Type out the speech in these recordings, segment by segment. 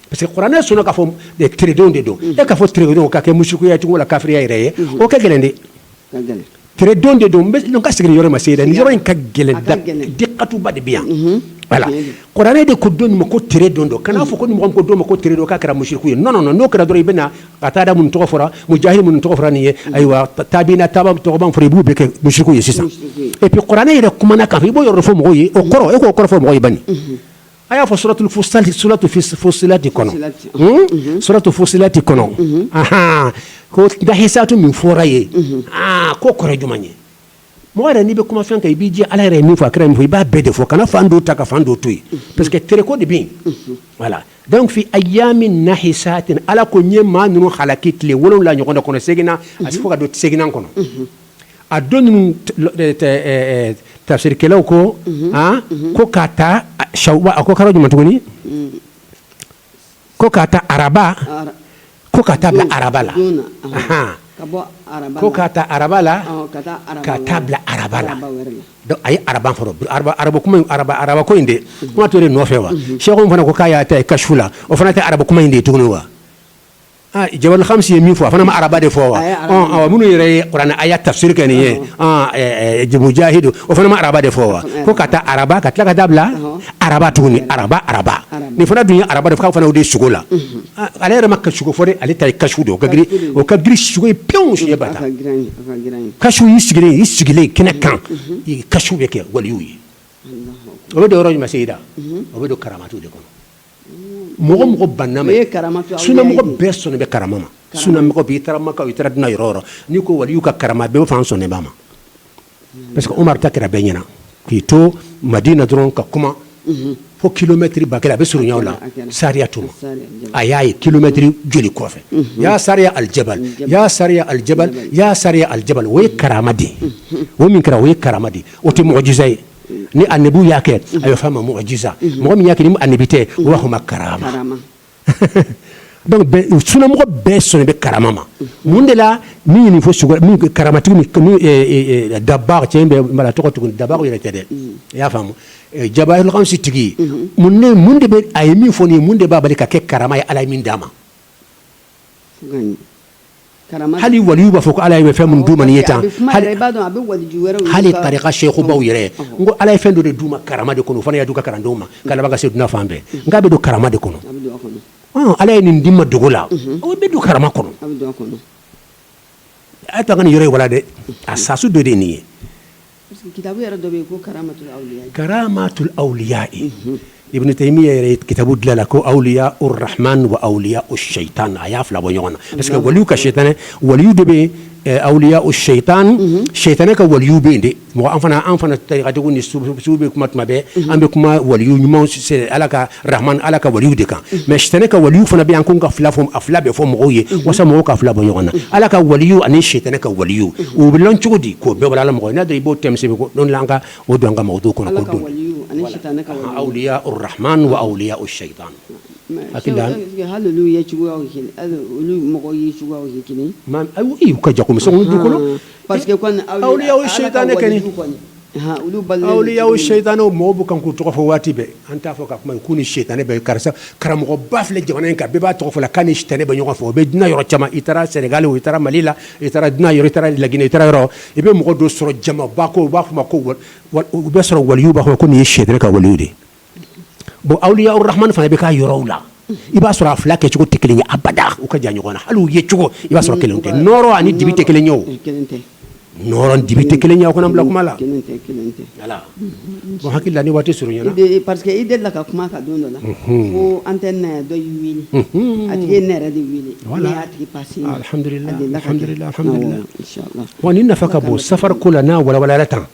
parce que kuranɛ sɔnna k'a fɔ tere don de don e k'a fɔ tere don ka kɛ musirikuya cogo la kafiriya yɛrɛ ye o ka gɛlɛn dɛ tere don de don ka sigi yɔrɔ ma se dɛ ni yɔrɔ in ka gɛlɛn dikatu ba de bɛ yan voilà kuranɛ de ko don ma ko tere don don kana n'a fɔ ko mɔgɔ ko don ma ko tere don k'a kɛra musiriku ye non n'o kɛra dɔrɔn i bɛna Katada minnu tɔgɔ fɔra Mujahid minnu tɔgɔ fɔra nin ye ayiwa tabiina caman tɔgɔ fɔ i b'u bɛɛ kɛ musiriku ye sisan et puis kuranɛ yɛrɛ kumana a kan i b'o yɔrɔ fɔ mɔgɔw ye o kɔrɔ e k'o kɔrɔ fɔ mɔgɔ ban A y'a fɔ suratu Fusilati kɔnɔ suratu Fusilati kɔnɔ ko nahisatu min fɔra yen aa ko kɔrɔ jumɛn ye mɔgɔ yɛrɛ n'i bɛ kuma fɛn kan i b'i jija ala yɛrɛ min fɔ a kira min fɔ i b'a bɛɛ de fɔ kana fan dɔ ta ka fan dɔ to yen parce que tere ko de bɛ voilà donc fi ayamin nahisatin ala ko n ye maa ninnu halaki tile wolo wolonwula ɲɔgɔn kɔnɔ seeginnan a se fo ka don seeginnan kɔnɔ a don ninnu tafsirikɛlaw ko ko ka ta Shawal a ko kalo jumɛn tuguni ko ka ta araba ko ka taa bila araba la ko ka ta araba la ka taa bila araba la donc a ye araba fɔ araba kuma araba ko in de kuma to de nɔfɛ wa sɛku fana ko k'a y'a ta kasifu la o fana tɛ araba kuma in de ye tuguni wa Jawahirul khamsi ye min fɔ a fana ma araba de fɔ wa minnu yɛrɛ ye kuranɛ aya tafsiri kɛ nin ye Mujahidu o fana ma araba de fɔ wa ko ka ta araba ka tila ka taa bila araba tuguni ni araba araba nin fana dun ye araba de fana de sugo la ale yɛrɛ m'a ka sugo fɔ ale ta kasifu don o ka o ka girin sugo ye pe kasifu i sigilen sigilen kɛnɛ kan i kasifu bɛ kɛ waliyu ye o bɛ don yɔrɔ jumɛn seda o bɛ don karamatu de kɔnɔ mɔgɔ mɔgɔ banna a ma sunamɔgɔ bɛɛ sɔnnen bɛ karama ma sunamɔgɔ i taara Maka i taara duniya yɔrɔ o yɔrɔ n'i ko waliyuw ka karama bɛɛ fana sɔnnen b'a ma parce que Umaru ta kɛra bɛɛ ɲɛ na k'i to Madina dɔrɔn ka kuma fo kilomɛtiri ba kelen a bɛ surunya la sariya tun a y'a ye kilomɛtiri joli kɔfɛ ya Sariya aljabal ya Sariya aljabal ya Sariya aljabal o ye karama de o min kɛra o ye karama de o tɛ mujiza ye ni anabiw y'a kɛ a bɛ f'a ma mujiza mɔgɔ min y'a kɛ ni anabi tɛ u b'a fɔ ma karama sunamɔgɔ bɛɛ sɔnnen bɛ karama ma mun de la min ye nin fɔ karamatigi Dabagu cɛ bɛ mara tɔgɔ tugun Dabagu yɛrɛ tɛ dɛ i y'a faamu Jawahirul khamsi tigi mun de bɛ a ye min fɔ nin ye mun de b'a bali ka kɛ karama ye ala ye min d'a ma hali waliyu b'a fɔ ko ala ye fɛn min d'u ma nin ye tan hali tarika sɛkubaw yɛrɛ n ko ala ye fɛn dɔ de d'u ma karama de kɔnɔ fana y'a d'u ka kalandenw ma ka laban ka se duniya fan bɛɛ nka o bɛ don karama de kɔnɔ ala ye nin di n ma dogo la o bɛ don karama kɔnɔ a y'a to n ka nin yɔrɔ walan dɛ asasu dɔ de nin ye Kitabu yɛrɛ dɔ bɛ yen ko karamatul awliya ye, karamatul awliya Ibn Tayimiya yɛrɛ ye kitabu dilan a la ko awliya arahmani wa awliya sitana a y'a fila bɔ ɲɔgɔn na parce que waliyu ka sitanɛ waliyu dɔ bɛ yen eh, awliya sitana sitanɛ ka waliyu bɛ yen dɛ mɔgɔ an fana an fana tarikatigiw ni sufiw bɛ kuma tuma bɛɛ an bɛ kuma waliyu ɲumanw Ala ka Arahamani Ala ka waliyu de kan mais sitana ka waliyu fana bɛ yan ko n k'a fila fɔ a fila bɛɛ fɔ mɔgɔw ye walasa mɔgɔw k'a fila bɔ ɲɔgɔn na Ala ka waliyu ani sitana ka waliyu u bɛ lɔn cogo di k'o bɛɛ walawala mɔgɔw ye n'a dɔn i b'o thème sɛbɛn ko don dɔ la an ka o don an ka mawudu kɔnɔ ko don awliya arahamani wa awliya sitana hakili la hali olu ye cogoyaw ye kelen hali olu mɔgɔw ye cogoyaw ye kelen ye u ka jakomisɛnw du kɔnɔ parce que kɔni awliya awliya sitana kɔni awliya seyitani o mɔɔw bɛ kan k'u tɔgɔ fɔ waati bɛɛ an t'a fɔ ka kuma k'u ni sitani bɛ karisa karamɔgɔba filɛ jamana in kan bɛɛ b'a tɔgɔ fɔ k'a ni sitani bɛ ɲɔgɔn fɛ o bɛ duniya yɔrɔ caman i taara Senegal o i taara Mali la i taara duniya yɔrɔ i taara La Guinée i taara yɔrɔ i bɛ mɔgɔ dɔ sɔrɔ jama b'a kɔ u b'a fɔ a ma ko u bɛ sɔrɔ waliyu b'a fɔ a ma ko nin ye sitana ka waliyu de ye bon awliya arahamani fana i bɛ ka yɔrɔw la i b'a sɔrɔ a fila kɛ cogo tɛ kelen ye abada u ka jan ɲɔgɔn na hali u ye cogo i b'a sɔrɔ kelen tɛ nɔrɔ ani dibi tɛ kelen ye o nɔrɔ ani dibi tɛ kelen ye ko n'an bila kuma la voilà bon hakili la ni waati surunyana parce que i delila ka kuma ka don dɔ la ko an tɛ na dɔ y' a tigi ne yɛrɛ de weele alhamdulilahi bon nin nafa ka bon safari ko la n'a walawalala tan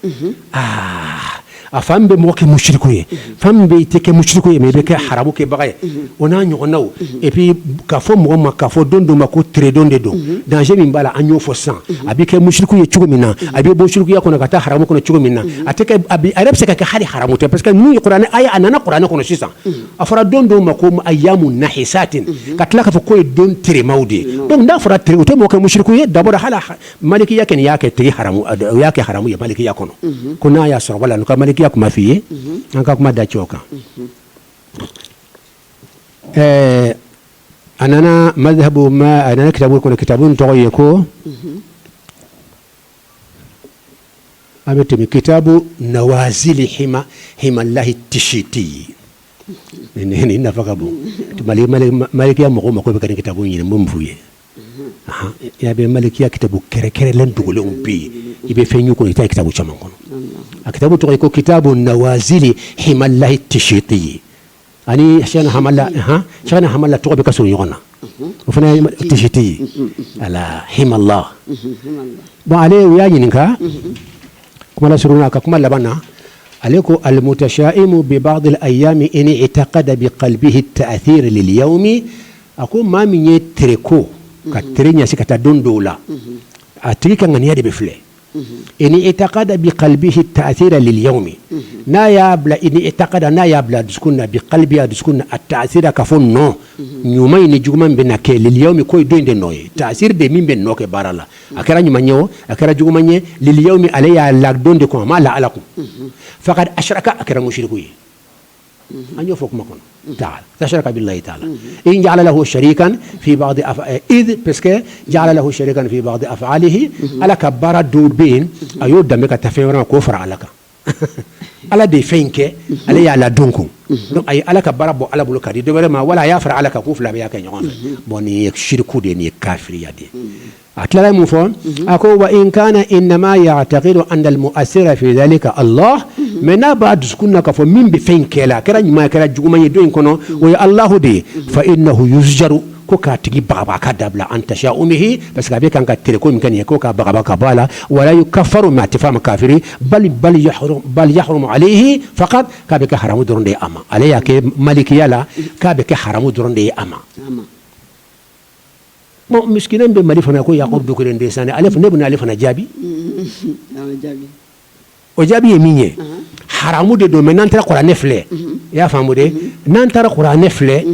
A fan min bɛ mɔgɔ kɛ musiriku ye fan min bɛ i tɛ kɛ musiriku ye mais i bɛ kɛ haramu kɛbaga ye o n'a ɲɔgɔnnaw epi ka fɔ mɔgɔ ma ka fɔ don dɔ ma ko teredon de don danger min b'a la an y'o fɔ sisan a bɛ kɛ musiriku ye cogo min na a bɛ bɔ musirikuya kɔnɔ ka taa haramu kɔnɔ cogo min na a yɛrɛ bɛ se ka kɛ hali haramu tɛ parce que n'u ye kuranɛ aya a nana kuranɛ kɔnɔ sisan a fɔra don dɔw ma ko ayamun nahisatin ka tila k'a fɔ k'o ye don terema de ye n'a fɔra tere o tɛ mɔgɔ kɛ musiriku ye d'abord hali Malikiya kɛ y'a kɛ tigi haramu y'a kɛ haramu ye malikiya kɔnɔ ko n'a y'a sɔrɔ la n ka malikiya kuma fɔ i ye an ka kuma da cɛw kan ɛɛ a nana mazihabu ma a nana kitabu kɔnɔ kitabu tɔgɔ ye ko an bɛ tɛmɛ kitabu nawazili Hamala Tisiti ye nafa ka bon malikiya mɔgɔ ma ko bɛ kɛ kitabu ɲini n b'a fɔ i ye Ya bɛ malikiya kitabu kɛrɛnkɛrɛnlen dogolen bɛ yen i bɛ fɛn ɲini o kɔnɔ i t'a kitabu caman kɔnɔ a kitabu tɔgɔ ye ko kitabu nawazili Hamala Tisiti ye ani seki Hamala tɔgɔ bɛɛ ka surun ɲɔgɔn na o fana Tisiti ye rahimahula bon ale u y'a ɲininka kuma surunya a ka kuma laban na ale ko alimutasayimu bi baadil ayami ini itakada bi kalibihi tasira lil ayami a ko maa min ye tere ko ka tere ɲɛsin ka taa don dɔw la a tigi ka ŋaniya de bɛ filɛ ini etakada bi kalibihi taasira liliyawmi n'a y'a bila ini etakada n'a y'a bila dusukun na bi kalibihi a dusukun na ataasira ka fɔ nɔ ɲuman in ni juguman bɛna kɛ liliyawmi ko don in de nɔ ye taasiri de min bɛ nɔ kɛ baara la a kɛra ɲuman ye o a kɛra juguman ye liliyawmi ale y'a la don de kun a ma la ala kun fakadi asiraka a kɛra musuriku ye an y'o fɔ kuma kɔnɔ fakadi asiraka bilahi taala izi jaala lahu sarikan fi baadi izi parce que jaala lahu sarikan fi baadi afaalihi ala ka baara dɔw bɛ yen a y'o danbebe ka taa fɛn wɛrɛ ma k'o fara ala kan ala de ye fɛn in kɛ ale y'a la don kun a ye ala ka baara bɔ ala bolo ka di dɔ wɛrɛ ma wala a y'a fara ala kan k'u fila bɛɛ y'a kɛ ɲɔgɔn fɛ bɔn nin ye siriku de nin ye kafiriya de ye a tilala mun fɔ a ko wa in kana inama yaatakidu ana alimuasira fi zalika alahu mais n'a b'a dusukun na k'a fɔ min bɛ fɛn kɛ la a kɛra ɲuman kɛra juguman ye don in kɔnɔ o ye alahu de ye fa inahu yuzijaru ko k'a tigi bagabaga k'a dabila an tasawumihi parce que a bɛ kan ka tere ko min kɛ nin ye ko k'a bagabaga k'a bɔ a la wala yukafaru mais a tɛ fɔ a ma kafiri bali yahurumu aleyihi fakati k'a bɛ kɛ haramu dɔrɔn de ye a ma ale y'a kɛ malikiya la k'a bɛ kɛ haramu dɔrɔn de ye a ma Misikinɛ bɛ mali fana ko yakubu dukure de sa ne ale fa ne bɛna ale fana jaabi o jaabi ye min ye haramu de don mais n'an taara kuranɛ filɛ i y'a faamu dɛ n'an taara kuranɛ filɛ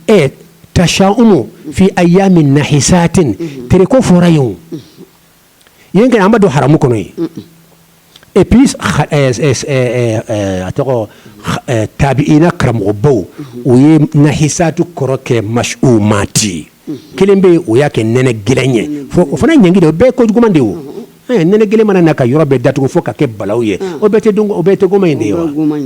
ɛ tasawumu fi ayamin nahisatin tere ko fɔra ye yen kɛnɛ an b'a dɔn haramu kɔnɔ ye et puis a tɔgɔ tabiyina karamɔgɔbaw u ye nahisatu kɔrɔ kɛ masiwumati ye kelen bɛ u y'a kɛ nɛnɛ gɛlɛn ye fo o fana ɲangi de o bɛɛ ko juguman de o nɛnɛ gɛlɛn mana na ka yɔrɔ bɛɛ datugu fo ka kɛ balawu ye o bɛɛ tɛ o bɛɛ tere goman in de ye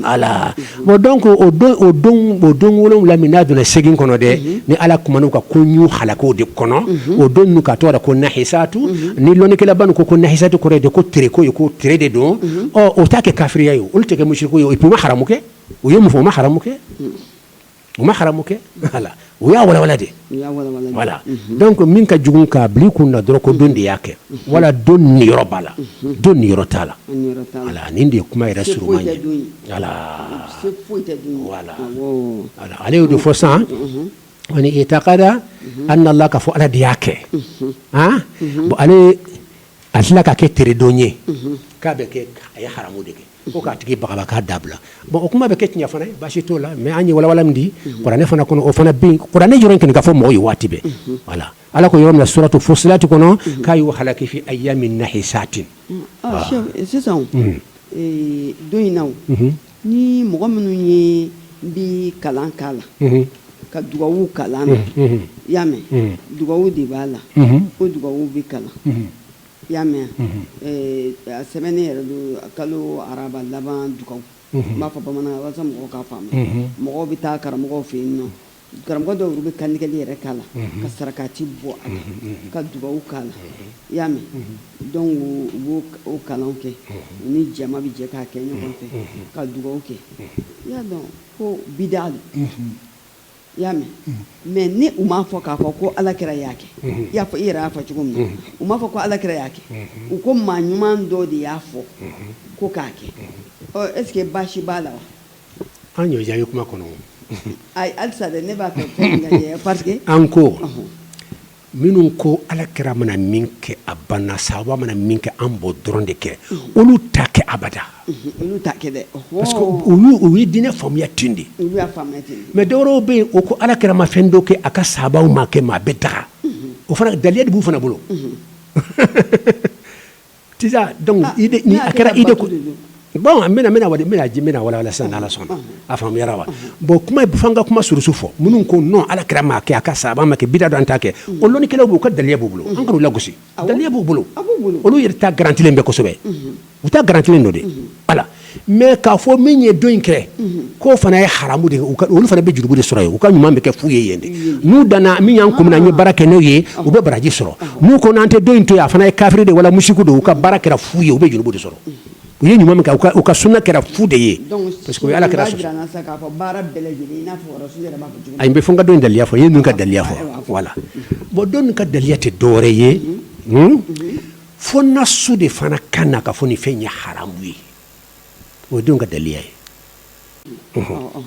ala Bon donc o don o don o don wolon wolonwula min n'a donna seegin kɔnɔ dɛ ni ala kumana u ka ko n'u halakiko de kɔnɔ o don nu ka tɔgɔ la ko nahisatu ni lɔnnikɛlaba nu ko nahisatu kɔrɔ de ko tere ko ye ko tere de don ɔ o t'a kɛ kafiriya ye olu tɛ kɛ musiriku ye o et puis u ma haramu kɛ u ye mun fɔ u ma haramu kɛ U ma haramu kɛ u y'a walawala de voilà donc min ka jugu k'a bila i kun na dɔrɔn ko don de y'a kɛ wala don niyɔrɔ b'a la don niyɔrɔ t'a la wala nin de ye kuma yɛrɛ suruman ye ale y'o de fɔ san wa ini etakada ana alaha ka fɔ ala de y'a kɛ bon ale a tila k'a kɛ tere don ye k'a bɛ kɛ a ye haramu de kɛ ko k'a tigi bagabaga k'a dabila bon o kuma bɛ kɛ tiɲɛ fana ye basi t'o la mais an ye walawala min di kuranɛ fana kɔnɔ o fana bɛ yen kuranɛ yɔrɔ in kɔni ka fɔ mɔgɔw ye waati bɛɛ voilà Ala ko yɔrɔ min na suratu fusilati kɔnɔ k'a y'u halaki fi ayami nahisati sisan don in na o ni mɔgɔ minnu ye n bɛ kalan k'a la ka dugawu kalan i y'a mɛn dugawu de b'a la o dugawu bɛ kalan I y'a mɛn a sɛbɛnnen yɛrɛ don kalo araba laban dugawu n b'a fɔ bamanan walasa mɔgɔw k'a faamu mɔgɔw bɛ taa karamɔgɔw fɛ yen nɔ karamɔgɔ dɔ wɛrɛw bɛ kantigɛli yɛrɛ k'a la ka sarakati bɔ a la ka dugawu k'a la i y'a mɛn donc u b'o kalan kɛ u ni jama bɛ jɛ k'a kɛ ɲɔgɔn fɛ ka dugawu kɛ i y'a dɔn ko bida i y'a mɛ unhun mais ni u m'a fɔ k'a fɔ ko Alakira y'a kɛ unhun i y'a fɔ i yɛrɛ y'a fɔ cogo min na unhun u m'a fɔ ko Alakira y'a kɛ unhun u ko maa ɲuman dɔ de y'a fɔ unhun ko k'a kɛ unhun ɔ est ce que baasi b'a la wa an y'o jaabi kuma kɔnɔ o ayi halisa dɛ ne b'a fɛ fɛn min ka jɛ parce que an ko ɔnhɔn Minnu ko ala kira mana min kɛ a banna sabaw mana min kɛ an b'o dɔrɔn de kɛ olu t'a kɛ abada parce que u ye diinɛ faamuya ten de mais dɔ wɛrɛw bɛ yen o ko ala kira ma fɛn dɔ kɛ a ka sabaw m'a kɛ mais a bɛ daga o fana daliya de b'u fana bolo Sisan donc ah, ni a kɛra idée ko bon n bɛna bɛna wali bɛna n bɛn'a walawala sisan n'ala sɔnna a faamuyara wa bon kuma fo an ka kuma surusu fɔ minnu ko non ala kira m'a kɛ a ka sabaw m'a kɛ bida don an t'a kɛ o lɔnnikɛlaw b'u ka daliya b'u bolo an kan'u lagosi daliya b'u bolo olu yɛrɛ ta garantilen bɛ kosɛbɛ u ta garantilen don de ala mais k'a fɔ min ye don in kɛ k'o fana ye haramu de ye olu fana bɛ jurumu de sɔrɔ u ka ɲuman bɛ kɛ fu ye yen n'u danana min y'an ko n'an ye baara kɛ n'o ye u bɛ baraji sɔrɔ n'u ko n'an tɛ don in to a fana ye kafiri de wala musiriki don u ka baara kɛra fu ye u bɛ jurumu de sɔrɔ u ye ɲuman kɛ u ka suna kɛra fu de ye parce que ala kira a bɛ fɔ an ka don daliya fɔ ye ka daliya fɔ voilà bon don ka daliya tɛ dɔwɛrɛ ye fo nasu de fana ka na k'a fɔ nin fɛn ye haramu ye o ye don ka daliya ye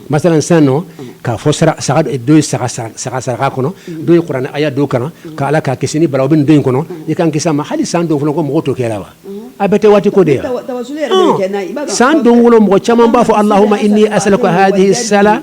masalan sisan nɔ k'a fɔ dɔ ye saga saraka kɔnɔ dɔ ye kuranɛ aya dɔw kalan ko ala k'an kisi ni balawu bɛ don in kɔnɔ i k'an kisi a ma hali san don fɔlɔ ko mɔgɔ t'o kɛ la wa a bɛɛ tɛ waati ko de yan san don fɔlɔ mɔgɔ caman b'a fɔ alahuma ini asaluka ha sa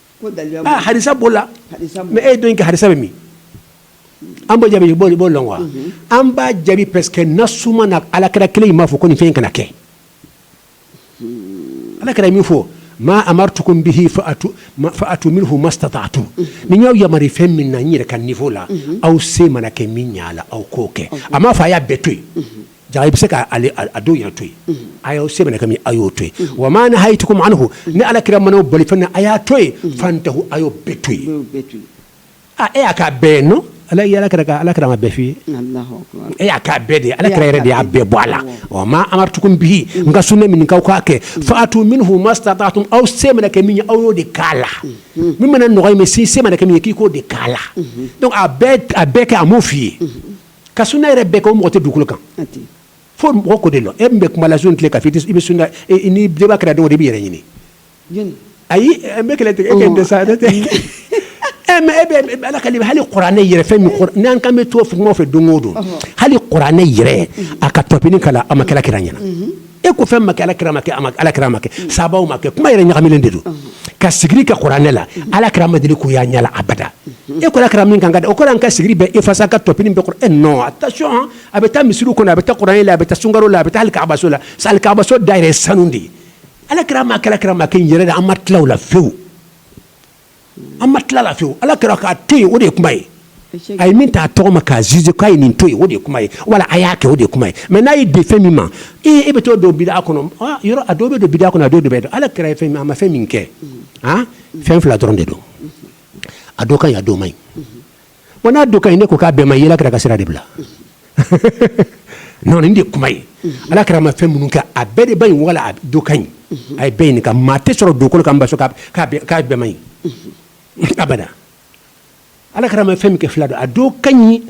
hadisa b'o la mais e don in ka hadisa bɛ min an b'o jaabi i b'o lɔn wa an b'a jaabi parce que nasu ma na ala kira kelen in m'a fɔ ko nin fɛn kana kɛ ala kira min fɔ maa amaritukum bihi faatu minhu masitatatum ni n y'aw yamari fɛn min na n yɛrɛ kan niveau la aw se mana kɛ min y'a la aw k'o kɛ a m'a fɔ a y'a bɛɛ to yen Ja i bɛ se k'a dɔ yɛrɛ to yen aw se mana kɛ min ye a y'o to yen wa ma nahaytukum anhu ni ala kira mana aw bali fɛn na a y'a to yen fantahu a y'o bɛɛ to yen e y'a k'a bɛɛ non ala ala kira ma bɛɛ f'i ye e y'a k'a bɛɛ de ala kira yɛrɛ de y'a bɛɛ bɔ a la wa ma amartukum bihi n ka sunna min k'aw k'a kɛ fa'atu minhu mastata'tum aw se mana kɛ min ye aw y'o de k'a la min mana nɔgɔya i ma i se mana kɛ min ye k'i k'o de k'a la donc a bɛɛ kɛ a m'o f'i ye Ka sunna yɛrɛ bɛɛ kɛ mɔgɔ tɛ dugukolo kan fo mɔgɔ ko de la e n bɛ kuma la sun tile ka i bɛ sunna ni bɛba kɛra dɔw de bɛ yɛrɛ ɲini ayi e bɛ kɛlɛ e kɛ sa tɛ ala ka hali kurane yɛrɛ fɛn min n'an kan bɛ to mɔgɔ fɛ don o don hali kurane yɛrɛ a ka tɔpini k'a la a ma k'a la kira ɲɛna e ko fɛn ma kɛ alakira ma kɛ a alakira ma kɛ mm. sabaw ma kɛ kuma yɛrɛ ɲagaminen de don mm-hmm. ka sigiri kɛ kurane la mm-hmm. alakira ma deli k'o y'a ɲɛ la abada mm-hmm. e ko alakira min kan ka da o ko an ka sigiri bɛɛ effacer ka tɔpini bɛɛ kurane non attention a bɛ taa misiri kɔnɔ a bɛ taa kuran la a bɛ taa sunkaro la a bɛ taa alikabaso la sa alikabaso da yɛrɛ sanu de ye alakira ma alakira ma kɛ yɛrɛ de an ma tila la fewu an ma tila la fewu Ala kira k'a to yen o de ye kuma ye, a ye min ta a tɔgɔ ma k'a juger k'a ye nin to yen o de ye kuma ye wala a y'a kɛ o de ye kuma ye mais n'a y'i dɛ fɛn min ma ee e bɛ t'o don bid'a kɔnɔ aa yɔrɔ a dɔ bɛ don bid'a kɔnɔ a dɔ de bɛ don Ala kira ye fɛn min a ma fɛn min kɛ han fɛn fila dɔrɔn de don a dɔ ka ɲi a dɔ man ɲi wa n'a dɔ ka ɲi n'e ko k'a bɛɛ man ɲi i y'ala kira ka sira de bila non nin de kuma ye ala kira ma fɛn minnu kɛ a bɛɛ de man ɲi wala a dɔ ka ɲi a ye bɛɛ ɲininka maa tɛ sɔrɔ dugukolo kan b'a fɔ k'a bɛɛ man ɲi abada ala kira ma fɛn min kɛ fila don a dɔ ka ɲi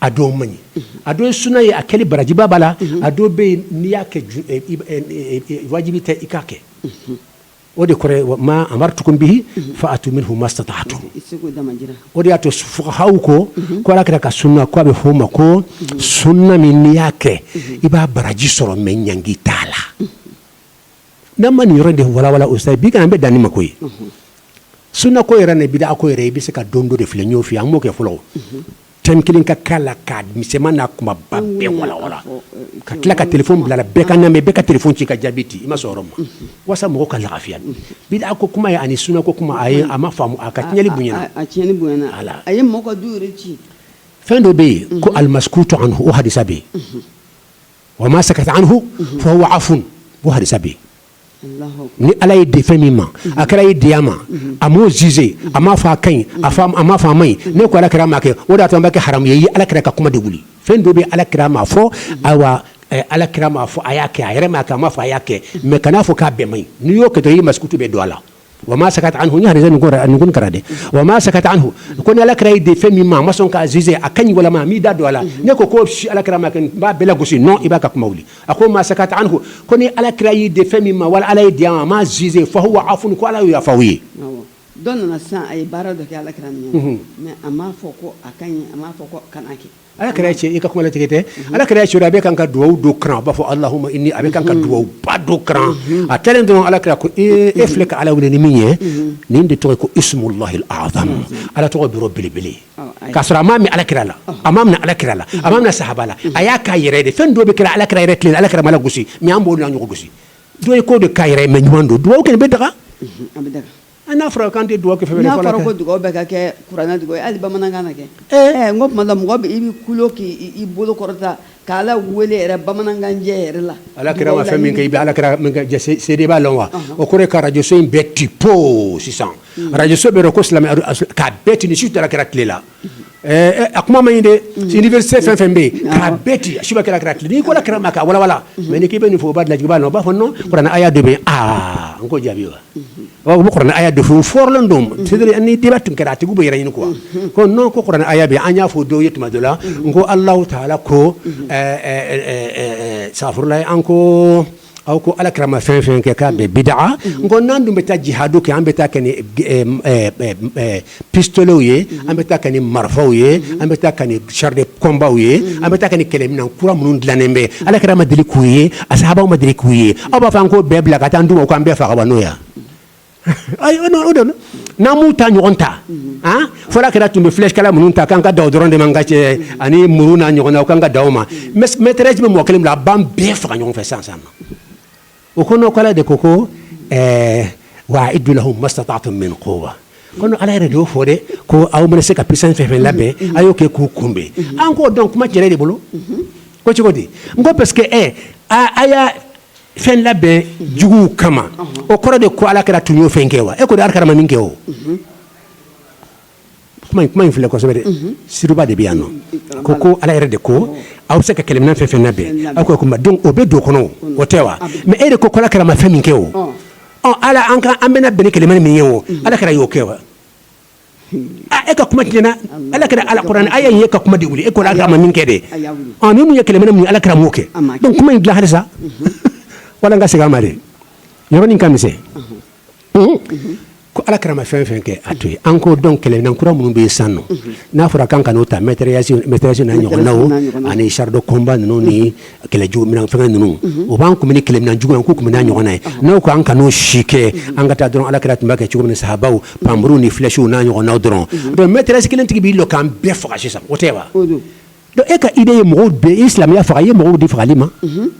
a dɔ man ɲi a dɔ ye sunna ye a kɛli barajiba b'a la a dɔ bɛ yen n'i y'a kɛ wajibi tɛ i k'a kɛ o de kɔrɔ ye ma amartukum bihi fa'atu minhu mastata'tum o de y'a to fuqahaw ko ko ala kira ka sunna ko a bɛ f'o ma ko sunna min n'i y'a kɛ i b'a baraji sɔrɔ mais ɲangi t'a la n'a ma nin yɔrɔ de walawala ustazi bi an bɛ dan nin ma koyi sunna ko yɛrɛ ni bid'a ko yɛrɛ i bɛ se ka don dɔ de filɛ ɲɔgɔn fɛ an b'o kɛ fɔlɔ thème kelen k'a kalan k'a misɛnman n'a kunbaba bɛɛ walawala ka tila ka téléphone bila bɛɛ k'a lamɛn bɛɛ ka téléphone ci ka jaabi di i ma sɔrɔ ma walasa mɔgɔw ka lafiya bid'a ko kuma ye ani sunna ko kuma a ye a ma faamu a ka tiɲɛni bonyana a ye ci fɛn dɔ bɛ yen ko al maskutu anhu o hadisa bɛ yen wa ma sakata anhu fa huwa afwun o hadisa bɛ yen ni ala y'i dɛ fɛn min ma a kira y'i dɛ a ma a m'o juger a ma fɔ a ka ɲi a ma fɔ a man ɲi n'e ko ala kira ma kɛ o de y'a to a bɛ kɛ haramu ye i y'ala kira ka kuma de wuli fɛn dɔ bɛ ala kira ma fɔ ayiwa ala kira ma fɔ a y'a kɛ a yɛrɛ ma a ma fɔ a y'a kɛ mais kana a fɔ k'a bɛɛ man ɲi n'i y'o kɛ dɔrɔn i ye maskutu bɛɛ don a la wa ma sakat anhu ni hadisa nukun kalan dɛ wa ma sakat anhu ko ni alakira y'i de fɛn min ma a ma sɔn k'a juger a ka ɲi walima a m'i da don a la ne ko ko si alakira m'a kɛ n b'a bɛɛ lagosi non i b'a ka kuma wuli a ko ma sakat anhu ko ni alakira y'i de fɛn min ma wala ala y'i de a ma a m'a juger fa huwa afun ko ala y'o yafa aw ye dɔ nana sisan a ye baara dɔ kɛ alakira ɲɛ mais a m'a fɔ ko a ka ɲi a m'a fɔ ko kana kɛ Ala kira cɛ i ka kuma latigɛ tɛ ala kira cɛ a bɛ kan ka dugawu dɔ kalan a b'a fɔ allahumma inni a bɛ kan ka dugawu ba dɔ kalan a tilalen dɔrɔn ala kira ko e filɛ ka ala wele ni min ye nin de tɔgɔ ye ko ismullahi al-azam ala tɔgɔ bɛrɛ belebele k'a sɔrɔ a m'a mɛn ala kira la a m'a minɛ ala kira la a m'a minɛ sahaba la a y'a k'a yɛrɛ de fɛn dɔ bɛ kɛra ala kira yɛrɛ tile la ala kira m'a lagosi mais an b'o la ɲɔgɔn gosi dɔ ye ko de k'a yɛrɛ mais ɲuman don dugawu kɛlen bɛ daga n'a fɔra k'an tɛ dugawu kɛ fɛn n'a fɔra ko dugawu bɛɛ ka kɛ kuranɛ dugawu ye hali bamanankan na kɛ ɛɛ n ko tuma la mɔgɔ bɛ i bɛ kulo k'i bolo kɔrɔta k'ala wele yɛrɛ bamanankan jɛ yɛrɛ la ala kira ma fɛn min kɛ i bɛ ala kira seede b'a lɔn wa o kɔrɔ ye ka radio so in bɛɛ ti po sisan radio so bɛɛ ko silamɛ k'a bɛɛ ti nin si t'ala kira tile la A kuma ma ɲi dɛ bɛ se fɛn fɛn bɛ yen ka bɛɛ ci suba kɛra kira n'i ko kira ma ka wawa mɛ n k'i bɛ nin fɔ u'a laji'a la u b'a fɔ n a y'a de bɛ aa n ko jaabi wa bɛ a de furu flen don ni di tun kɛra a tigi bɛ yɛrɛ ɲini kuwa ko n'o ko a y' bi an y'a fɔ dɔw ye tuma dɔ la n ko ala t' ala ko safla an ko aw ko ala kira ma fɛn fɛn kɛ k'a bɛɛ bidaa n ko n'an dun bɛ taa jihadu kɛ an bɛ taa kɛ ni pistoletw ye an bɛ taa kɛ ni marifaw ye an bɛ taa kɛ ni char de combatw ye an bɛ taa kɛ ni kɛlɛminɛn kura minnu dilannen bɛ ala kira ma deli k'u ye a sahabaw ma deli k'u ye aw b'a fɔ an k'o bɛɛ bila ka taa an d'u ma u k'an bɛɛ faga wa n'o ye n'an m'u ta ɲɔgɔn ta fo ala kira tun bɛ flèche kala minnu ta k'an ka dan o dɔrɔn de ma n ka cɛ ani muru n'a ɲɔgɔnna k'an ka dan o ma mitrailleuse bɛ mɔgɔ kelen bolo a b'an bɛɛ faga ɲɔgɔn fɛ sisan o ko non ko ala de ko wa a'iddu lahum mastata'tum min quwwa ko ala yɛrɛ de y'o fɔ dɛ ko aw bɛ se ka puissance fɛn fɛn labɛn a y'o kɛ k'u kunbɛn an ko donc kuma cɛnna e de bolo ko cogo di n ko parce que e fɛn labɛn juguw kama o kɔrɔ de ko ala kira tun y'o fɛn kɛ wa e ko de ala kira ma min kɛ o kuma in filɛ kosɛbɛ dɛ siriba de bɛ yan nɔ ko ko ala yɛrɛ de ko aw bɛ se ka kɛlɛminɛn fɛn fɛn labɛn aw ko kuma donc o bɛ don kɔnɔ o tɛ wa mais e de ko ala kira ma fɛn min kɛ o ala an bɛna bɛn ni kɛlɛminɛn min ye o ala kira y'o kɛ wa e ka kuma tiɲɛna ala kira alkuranɛ aya in y'e ka kuma de wuli e ko ala kira ma min kɛ de min mun ye kɛlɛminɛn alakira m'o kɛ donc kuma in dilan halisa wala n ka segin a ma dɛ yɔrɔnin ka misɛn ko ala kira ma fɛn fɛn kɛ a to yen an ko donc kɛlɛminɛn kura minnu bɛ yen sisan nɔ n'a fɔra k'an kan'o ta mitrailleuse n'a ɲɔgɔnna ani char de combat ninnu ni kɛlɛ jugu minɛn fɛngɛ ninnu, unhun, o b'an kunbɛn ni kɛlɛminɛn juguman ye, k'u kunbɛn n'a ɲɔgɔnna ye, ɔnhɔn, n'aw ko an kan'o si kɛ, unhun, an ka taa dɔrɔn Ala kira tun b'a kɛ cogo min na sahabaw panmuru ni flèches n'a ɲɔgɔnnaw dɔrɔn, unhun, donc mitrailleuse kelen tigi b'i jɔ k'an bɛɛ faga sisan, o tɛ wa, o don, donc e ka idée ye mɔgɔw de i ye silamɛya faga, i ye mɔgɔw di fagali ma, unhun,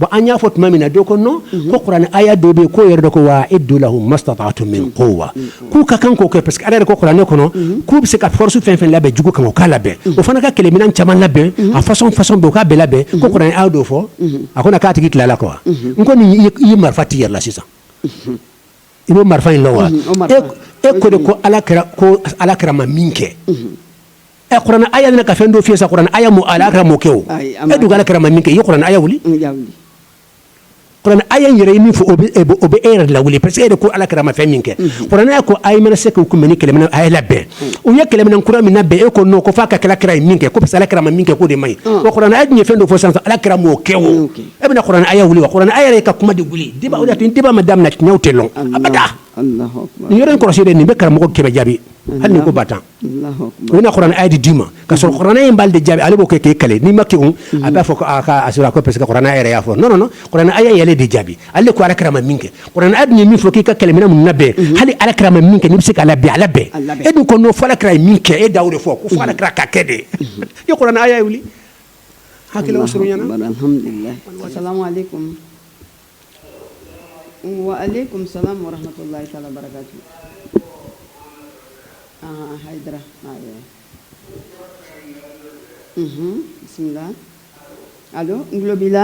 bon an y'a fɔ tuma min na dɔ ko non ko kuranɛ aya dɔ bɛ yen k'o yɛrɛ de ko wa a'iddu lahum mastata'tum min quwwa k'u ka kan k'o kɛ parce que Ala yɛrɛ ko kuranɛ kɔnɔ, unhun, k'u bɛ se ka force fɛn o fɛn labɛn jugu kama u k'a labɛn, unhun, o fana ka kɛlɛminɛn caman labɛn, unhun, a façon façon bɛɛ u k'a bɛɛ labɛn, unhun, ko kuranɛ aaya dɔ fɔ, unhun, a kana k'a tigi tila a la quoi, unhun, n ko nin i ye marifa t'i yɛrɛ la sisan, unhun, i b'o marifa in dɔn wa, unhun, o marifa, e e ko de ko Ala kira ko Ala kira ma min kɛ, unhun, ɛ kuranɛ aaya nana ka fɛn dɔ f'i ye sa kuranɛ aaya m'o Ala kira m'o kɛ o, ayi, a m'a kɛ, e dun ko Ala kira ma min kɛ i ye kuranɛ aaya wuli, un, n y'a wuli aya in yɛrɛ ye min fɔ o bɛ e yɛrɛ lawuli parce que e de ko Ala kira ma fɛn min kɛ kuranɛ aya ko a mana se k'u kunbɛn ni kɛlɛminɛn a ye labɛn u ye kɛlɛminɛn kura min labɛn e ko non ko fo a ka kɛ Ala kira ye min kɛ ko Ala kira ma min kɛ k'o de man ɲi wa kuranɛ aya ye fɛn dɔ fɔ sisan Ala kira m'o kɛ o e bɛna kuranɛ aya wuli kuranɛ aya yɛrɛ ka kuma de wuli débat ma daminɛ tiɲɛw tɛ dɔn abada nin yɔrɔ in kɔlɔsi nin bɛ karamɔgɔ kɛmɛ jaabi hali ko ba tan U bɛna kuranɛ aya de d'i ma ka sɔrɔ kuranɛ aya in b'ale de jaabi ale b'o kɛ k'e caler n'i ma kegun a b'a fɔ ko aa kaa a sɔrɔla koyi parce que kuranɛ aya yɛrɛ y'a fɔ non non non kuranɛ aya in y'ale de jaabi ale de ko Ala kira ma min kɛ kuranɛ aya dun ye min fɔ k'i ka kɛlɛminɛn ninnu labɛn unhun hali Ala kira ma min kɛ n'i bɛ se k'a labɛn a labɛn a labɛn e dun ko non fo Ala kira ye min kɛ e da y'o de fɔ unhun ko fo Ala kira k'a kɛ de unhun i ye kuranɛ aya in wuli hakililaw surunyana bari alhamdulilahi asalamuwalekum Wa ale kɔmimisa mɔratɔ la sa barika bi aa hara bisimila a don n tulo b'i la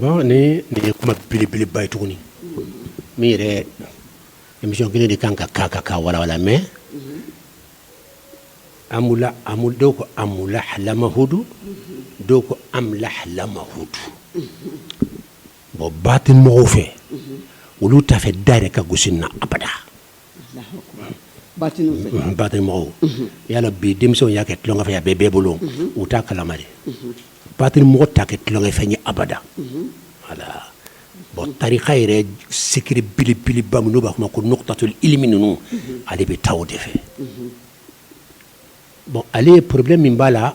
Bon ni nin ye kuma belebeleba ye tuguni min yɛrɛ émission kelen de kan ka ka ka ka walawala mais an dɔw ko a lahaladudu dɔw ko an lahaladudu bon batini mɔgɔw fɛ olu t'a fɛ da yɛrɛ ka gosi na abada mɔgɔw yala bi denmisɛnw y'a kɛ tulonkɛ fɛn ye a bɛ bɛɛ bolo u t'a kalama de batini mɔgɔ t'a kɛ tulonkɛ fɛn ye abada voilà bon tarika yɛrɛ sikiri belebeleba minnu b'a kuma ko nuqtatul ilmi ninnu ale bɛ taa o de fɛ Bon ale problème min b'a la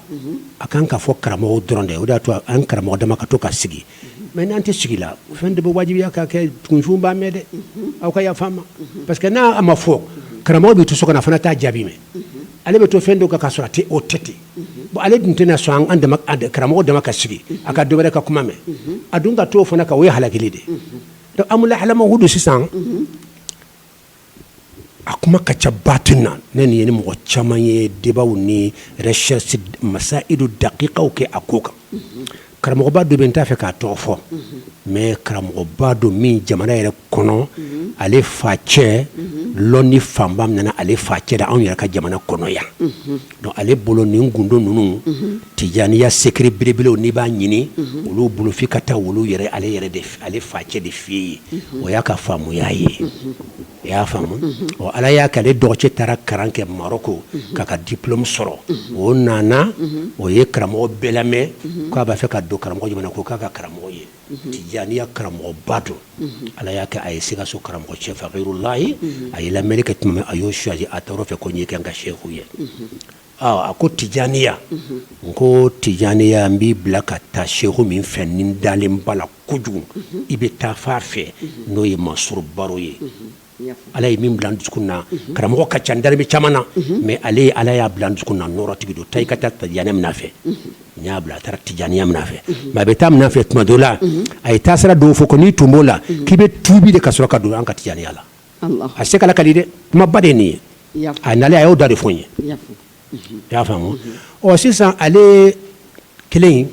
a ka kan k'a fɔ karamɔgɔ dɔrɔn de o y'a to an karamɔgɔ dama ka to ka sigi mɛ n'an tɛ sigi la fɛn de b'o wajibiya ka kɛ kunfin b'a mɛn dɛ aw ka yafa n ma parce que n'a ma fɔ karamɔgɔ bɛ to so kana fana taa jaabi mɛn ale bɛ to fɛn don ka ka sɔrɔ a tɛ o tɛ ten bon ale tun tɛna sɔn an karamɔgɔ dama ka sigi a ka dɔwɛrɛ ka kuma mɛn a dun ka to o fana ka o ye halakili de don amula halama hudu sisan a kuma ka ca batini na ne nin ye ni mɔgɔ caman ye debaw ni recherche masailu dakikaw kɛ a ko kan karamɔgɔba dɔ bɛ n t'a fɛ k'a tɔgɔ fɔ mɛ karamɔgɔba don min jamana yɛrɛ kɔnɔ ale fa cɛ lɔnni fanba nana ale fa cɛ la anw yɛrɛ ka jamana kɔnɔ yan ale bolo nin gundo ninnu tijaniya secret belebelew n'i b'a ɲini olu bolo fo i ka taa olu yɛrɛ ale yɛrɛ de ale fa cɛ de fɛ yen o y'a ka faamuya ye i y'a faamu ɔ ala y'a kɛ ale dɔgɔ cɛ taara kalan kɛ maroko k'a ka diplome sɔrɔ o nana o ye karamɔgɔ bɛɛ lamɛn k'a b'a fɛ ka don karamɔgɔ jama na ko k'a k'a karamɔgɔ ye tijaniya karamɔgɔba don ala y'a kɛ a ye sikaso karamɔgɔ cɛ fakirulahi a ye lamɛnni kɛ tuma min a y'o choisi a taara o fɛ ko n y'i kɛ n ka seku ye a ko tijaniya n ko tijaniya n b'i bila ka taa seku min fɛ n'i dalen b'a la kojugu i bɛ taa fa fɛ n'o ye mansour baro ye Ala ye min bila n dusukun na karamɔgɔ ka ca n dalen bɛ caman na mɛ ale ye ala y'a bila n dusukun na nɔɔrɔtigi don taa i ka taa tijaniya minɛ a fɛ n y'a bila a taara tijaniya minɛ a fɛ mɛ a bɛ taa a minɛ a fɛ tuma dɔ la a y'a ta sarati dɔ fɔ ko n'i tun b'o la k'i bɛ tubi de ka sɔrɔ ka don an ka tijaniya la a se k'a lakali dɛ kumaba de nin ye a nalen a y'o da de fɔ n ye i y'a faamu ɔ sisan ale kelen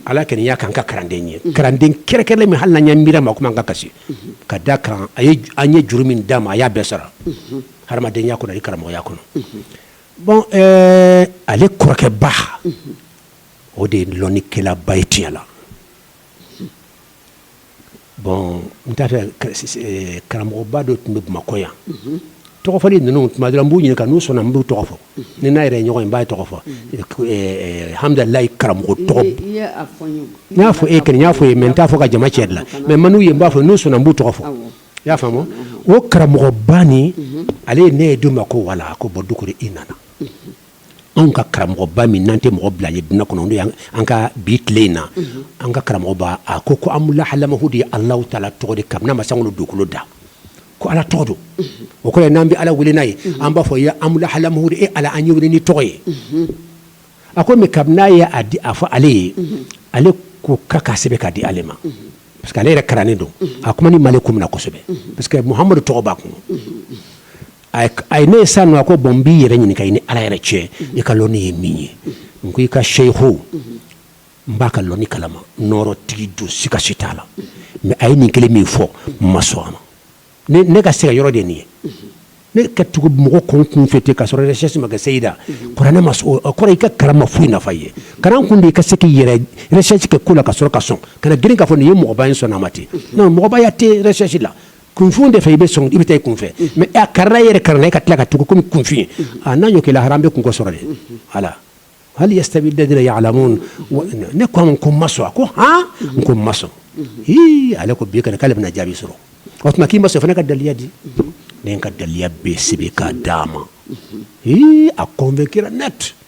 ala kɔni y'a k'an ka kalanden ye kalanden kɛrɛnkɛrɛnnen min hali n'an y'an miiri a ma komi an ka kasi ka d'a kan a ye an ye juru min d'a ma a y'a bɛɛ sara hadamadenya kɔnɔ ani karamɔgɔya kɔnɔ bon ɛɛ ale kɔrɔkɛba o de ye lɔnnikɛlaba ye tiɲɛ la bon n t'a fɛ karamɔgɔba dɔ tun bɛ bamakɔ yan tɔgɔ fɔli ninnu tuma dɔ rɔ n b'u ɲininka n'u sɔnna n b'u tɔgɔ fɔ ni n n'a yɛrɛ ɲɔgɔn ye n b'a tɔgɔ fɔ alhamdulilayi karamɔgɔ tɔgɔ n y'a fɔ e kɔni n y'a fɔ i ye mɛ n t'a fɔ ka jama cɛ la mɛ n mana u ye n b'a fɔ n'u sɔnna n b'u tɔgɔ fɔ i y'a faamu o karamɔgɔba ni ale ye ne dun ma ko wala ko bɔ dugu kɔrɔ i nana anw ka karamɔgɔba min n'an tɛ mɔgɔ bila a ɲɛ dunya kɔnɔ n'an ka bi tile in na an ka karamɔgɔba a ko ko amula halama hudu ye ala taala tɔgɔ de kabini a ma sankolo dugukolo da ko ala tɔgɔ don o kɔrɔ n'an bɛ ala wele n'a ye an b'a fɔ ya amula halamu e ala an y'i wele nin tɔgɔ ye a ko mɛ kabini n'a y'a di a fɔ ale ye ale ko k'a k'a sɛbɛn k'a di ale ma parce que ale yɛrɛ karannen don a kuma ni mali ko minna na kosɛbɛ parce que muhamadu tɔgɔ b'a kun a ye ne ye sa nɔ a ko bɔn n b'i yɛrɛ ɲininka i ni ala yɛrɛ cɛ i ka lɔni ye min ye n ko i ka seyiho n b'a ka lɔni kalama nɔɔrɔ tigi don sika si t'a la mɛ a ye nin kelen min fɔ n ma sɔn a ma ne ka se ka yɔrɔ de nin ye ne ka tugu mɔgɔ kɔ kun fɛ ten ka sɔrɔ recherche ma kɛ seyida kɔrɔ ne ma kɔrɔ i ka karama foyi nafa ye kalan kun de i ka se k'i yɛrɛ recherche kɛ ko la ka sɔrɔ ka sɔn kana girin k'a fɔ nin ye mɔgɔba in sɔn a ma ten mɔgɔbaya tɛ recherche la kunfin de fɛ i bɛ sɔn i bɛ taa i kunfɛ mɛ a karanna yɛrɛ karanna e ka tila ka tugu kɔmi kunfin a n'a ɲɔ kɛ la haramu b'i kun k'o sɔrɔ de ala hali yasitawi lazina yaalamun ne ko n ko n ma sɔn a ko han n ko n ma sɔn h ale ko bi k'ale bɛna jaabi sɔrɔ o tuma k'i ma sɔn fana i ka daliya di ne ka daliya bɛ sɛbɛn ka d'a ma h a kɔnvɛnkira nɛti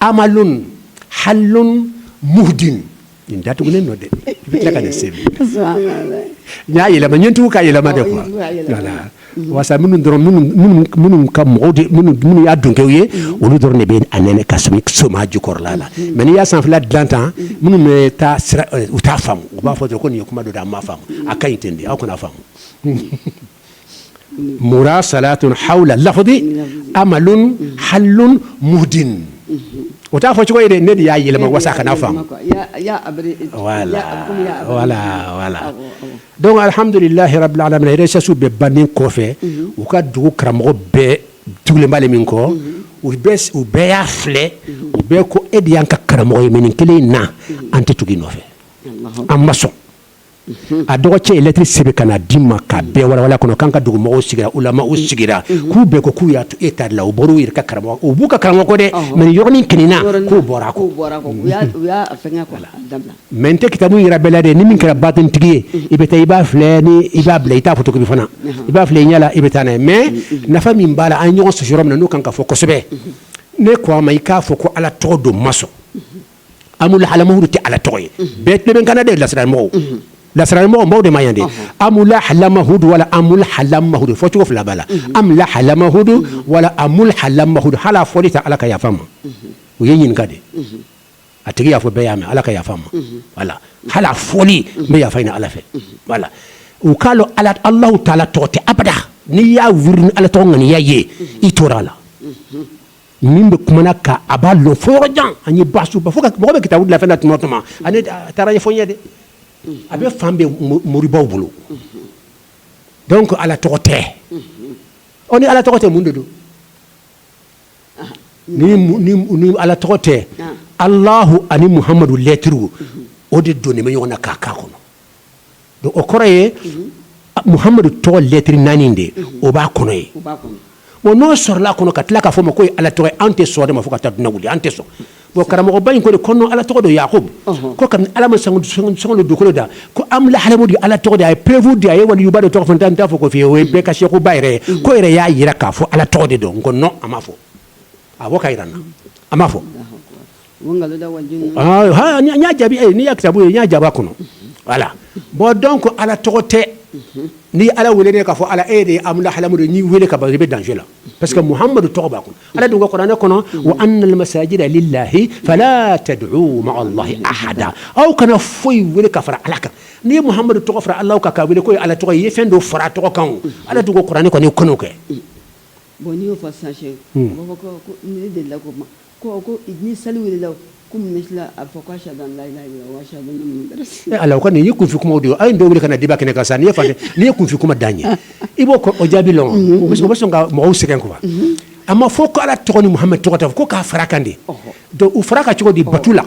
amalun halun muhdin nin datugulen no dɛ i bɛ tila ka dɛsɛ n y'a yɛlɛma n ye n tugu ka yɛlɛma de kuwa wala wasa minnu dɔrɔn minnu ka mɔgɔw minnu y'a dunkɛw ye olu dɔrɔn de bɛ a nɛnɛ ka sɔmi sɔmi a jukɔrɔla la mɛ n'i y'a sanfɛla dilan tan minnu bɛ taa u t'a faamu u b'a fɔ ko nin ye kuma dɔ de an m'a faamu a ka ɲi ten de aw kana faamu murasalatun haula lafdi amalun halun mudin o t'a fɔ cogo ye de ne de y'a yɛlɛma wasa kana faamu wala dɔnki alihamdulilahi rabilalamin recherche bɛɛ bannen kɔfɛ u ka dugu karamɔgɔ bɛɛ tugulen b'ale min kɔ u u bɛɛ y'a filɛ u bɛɛ ko e de y'an ka karamɔgɔ ye mɛ nin kelen in na an tɛ tugu i nɔfɛ an ma sɔn a dɔgɔcɛ ye lɛtiri sɛbɛn ka na di n ma ka bɛɛ wawa kɔnɔ k'an ka dugu mɔgɔw sigira ulamaw sigira k'u bɛɛ ko k'u y'a to e ta la u bɔra u ka karamɔgɔ u b'u ka karamɔgɔ kɔ dɛ mɛ yɔrɔnin kelen in na k'u bɔra a kɔ mɛ n tɛ kitabu yira bɛɛ la dɛ ni min kɛra batinitigi ye i bɛ taa i b'a filɛ ni i b'a bila i t'a fotokopi fana i b'a filɛ i ɲɛ la i bɛ taa n' mɛ nafa min b'a la an ɲɔgɔn sɔsɔ yɔrɔ min na n'u kan ka fɔ kosɛbɛ ne ko a ma i k'a fɔ ko ala tɔgɔ don n ma sɔn amulu halamahudu tɛ ala tɔgɔ ye bɛɛ tɛ n bɛ n kan na de lasirari mɔgɔ lasirari mɔgɔbaw de ma yan dɛ amila halamahudu wala amulu halamahudu fɔ cogo fila b'a la amila halamahudu wala amulu halamahudu hala fɔli ta ala ka yafa ma o ye ɲininka de a tigi y'a fɔ bɛɛ y'a mɛn ala ka yafa ma wala hala fɔli n bɛ yafa ɲini ala fɛ wala u k'a lɔn ala alahu taala tɔgɔ tɛ abada n'i y'a wiridi ni ala tɔgɔ ŋaniya ye i tora a la min bɛ kuma na ka a b'a lɔn fo yɔrɔ jan ani basisu fo mɔgɔ bɛ kitabu bilafɛ tuma tuma a taara fɔ ɲɛ dɛ a bɛ fan bɛ moribaw bolo dɔnki ala tɔgɔ tɛ o ni ala tɔgɔ tɛ mun de don ni ala tɔgɔ tɛ alahu ani muhamadu lɛtiri o de don nin bɛ ɲɔgɔn na k'a k'a kɔnɔ O kɔrɔ ye muhamadu tɔgɔ lɛtri naani de o b'a kɔnɔ yen bon n'o sɔrɔla a kɔnɔ ka tila k'a fɔ o ma ko ala tɔgɔ ye anw tɛ sɔn o de ma fo ka taa diɲɛ wuli an tɛ sɔn bon karamɔgɔba in ko ko nin ala tɔgɔ don yakubu ko kabi ala ma sankolo dugukolo da ko amlahalamudu ala tɔgɔ de a ye perefu di a ye waliyuba dɔ tɔgɔ fɔ n t'a fɔ ko fi o bɛɛ ka sekuba yɛrɛ ye ko i yɛrɛ y'a jira k'a fɔ ala tɔgɔ de don ko non a m'a fɔ a bɔ k'a jira an na a m'a fɔ y'a jaabi e n'i y'a kitabu ye n y'a jaabi a kɔnɔ voilà bon donc Ala tɔgɔ tɛ n'i ye Ala wele dɛ k'a fɔ Ala e de ye amlahalamudu n'i wele ka ban i bɛ danger la parce que Muhamadu tɔgɔ b'a kɔnɔ Ala dun ko kuranɛ kɔnɔ wa anal masajida lilahi fala tad'u ma'a Allahi ahada aw kana foyi wele ka fara Ala kan n'i ye Muhamadu tɔgɔ fara Ala kan k'a wele k'o ye Ala tɔgɔ ye i ye fɛn dɔ fara a tɔgɔ kan o Ala dun ko kuranɛ kɔnɔ i kan'o kɛ bon n'i y'o fɔ sisan Sɛki u b'a fɔ ko ne delila k'o mɛn Ko ko ni seli welela ko misiri la a fɔ ko shadu an la ilaha ila ala ko nin ye kunfin kuma don a ye dɔw wele ka na deba kɛnɛ kan sa n' fɛ nin ye kunfin kuma dan ye i b'o o jaabi lɔn o bɛ sɔn ka mɔgɔw sɛgɛn kuwa an m'a fɔ ko ala tɔgɔ ni muhamadu tɔgɔ ko k'a fara kan dɛ u fara kan cogo di batu la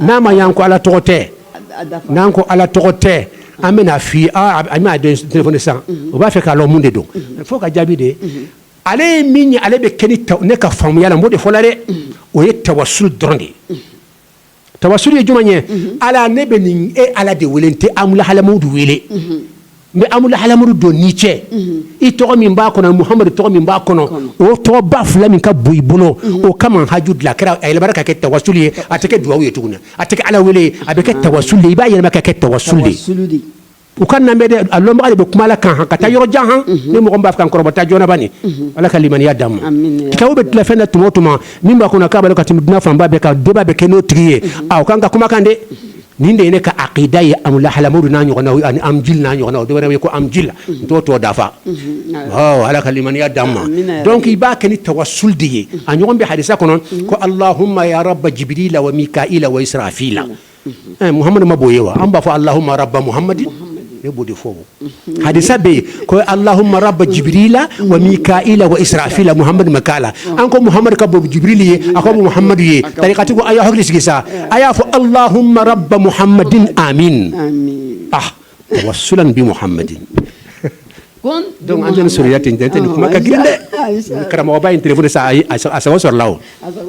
N'a ma yan ko ala tɔgɔ tɛ n'an ko ala tɔgɔ tɛ an bɛn'a fi an bɛn'a telefɔni san u b'a fɛ k'a lɔn mun de don fo k'a jaabi dɛ ale ye min ye ale bɛ kɛ ne ka faamuya la n b'o de fɔ la dɛ o ye tawasuli dɔrɔn de ye tawasuli ye jumɛn ye ala ne bɛ nin e ala de wele n tɛ amlahalamudu wele n bɛ amlahalamudu don n n'i cɛ i tɔgɔ min b'a kɔnɔ muhamadu tɔgɔ min b'a kɔnɔ o tɔgɔba fila min ka bon i bolo o kama haju dilan kɛra a yɛlɛma ka kɛ tawasuli ye a tɛ kɛ dugawu ye tuguni a tɛ kɛ ala wele a bɛ kɛ tawasuli ye i b'a yɛlɛma ka kɛ tawasuli ye aw k'a lamɛn dɛ a lɔnbaa de bɛ kuma la kan ka taa yɔrɔ jan han ni mɔgɔ min b'a kan kɔrɔbata jɔnba nin ala ka limaniya d'an ma cɛw bɛ dilafɛn de tuma o tuma min b'a kɔnɔ k'a ka tɛmɛ diɲɛ fanba bɛɛ kan deba bɛ kɛ n'o tigi ye a kan ka kumakan dɛ nin de ye ne ka akida ye amlahalamudu n'a ɲɔgɔnnaw ani amjil n'a ɲɔgɔnnaw dɔw wɛrɛ ye ko amjil n t'o tɔ dafa ala ka limaniya d'an ma dɔnku i b'a kɛ ni tawasuli de ye a ɲɔgɔn bɛ hadisa kɔnɔ ko alahuma ya raba jibirila wa mika'ila wa israfila muhamadu man bon u ye wa an b'a fɔ alahuma raba muhamadin ne b'o de fɔ hadisa bɛ yen ko alahuma raba jibirila wa mika'ila wa israfila muhamadu ma k'a la an ko muhamadu ka bon jibirili ye a ko muhamadu ye tarikatigi ko a y'a hakili sigi sa a y'a fɔ alahuma raba muhamadin amin tawasulan bi muhamadi donc an tɛ ni sɔrɔya ten tɛ nin kuma ka girin dɛ karamɔgɔba in telefɔni sa a sago sɔrɔla o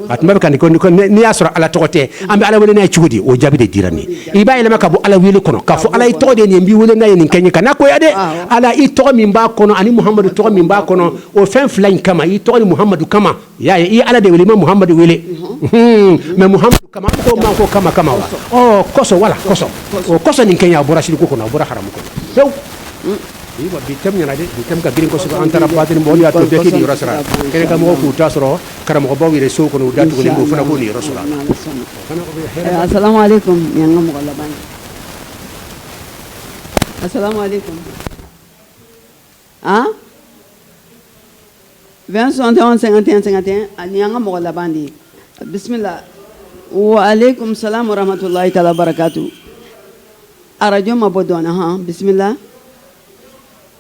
a tuma bɛɛ ka n'i y'a sɔrɔ ala tɔgɔ tɛ an bɛ ala wele n'a ye cogo di o jaabi de dira nin i b'a yɛlɛma ka bɔ ala wele kɔnɔ k'a fɔ ala i tɔgɔ de n b'i wele n'a ye nin kɛ n ye kana goya dɛ ala i tɔgɔ min b'a kɔnɔ ani muhamadu tɔgɔ min b'a kɔnɔ o fɛn fila in kama i tɔgɔ ni muhamadu kama y'a ye i ala de wele i ma muhamadu wele mais muhamadu kama ko kama kama wa kɔsɔn wala kɔsɔn o kɔsɔn nin kɛ a bɔra siriku kɔnɔ a bɔra haramu kɔnɔ bi ka girin kɔsɔ an taara ba bɔ yɔrɔ sara kɛnɛ ka mɔgɔw k'u ta sɔrɔ Karamɔgɔbaw yɛrɛ so kɔnɔ u da tugulen u fana b'u niyɔrɔ sɔrɔ a la. Eh, Assalamu alaikum nin y'an ka mɔgɔ laban ye. Assalamu alaikum an 20 61 51 51 a nin y'an ka mɔgɔ laban de ye bisimila wa alaikum salam wa rahmatulahi taala wa barakatu arajo mabɔ dɔɔnin han bisimila.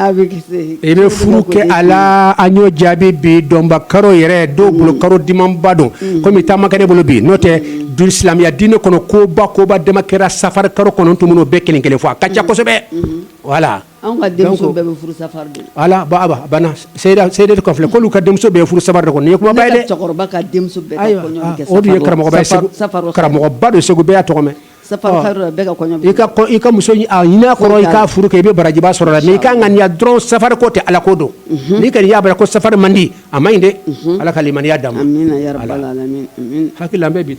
A bɛ kisi, i bɛ furu kɛ a la an y'o jaabi bi donba karo yɛrɛ dɔw bolo karo dimanba don komi temps man ca ne bolo bi n'o tɛ silamɛya diinɛ kɔnɔ koba koba dama kɛra safari kalo kɔnɔ n tun b'u bɛɛ kelen kelen fɔ a ka ca kosɛbɛ voilà anw ka denmuso bɛɛ bɛ furu safari de voilà a banna Seyida Seydatu kan filɛ k'olu ka denmuso bɛɛ bɛ furu safari de kɔnɔ nin ye kumaba ye dɛ, ne ka cɛkɔrɔba ka denmuso bɛɛ ka kɔɲɔ bɛ kɛ safari don, ayiwa o dun ye karamɔgɔba ye Segu, safari don, karamɔgɔba don Segu bɛɛ y'a tɔgɔ mɛn I ka muso kɔrɔ i ka furu kɛ i bɛ barajiba sɔrɔ la i ka ŋaniya dɔrɔn sari ko tɛ ala ko don n'i ka y'a ko sari man di a ma ɲi dɛ ala ka lammiiniya da hakili bi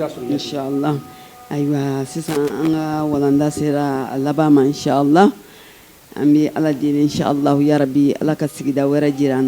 ayiwa sisan an ka walanda sera a laban ma la an bɛ ala deli bi ala ka sigida wɛrɛ jira an na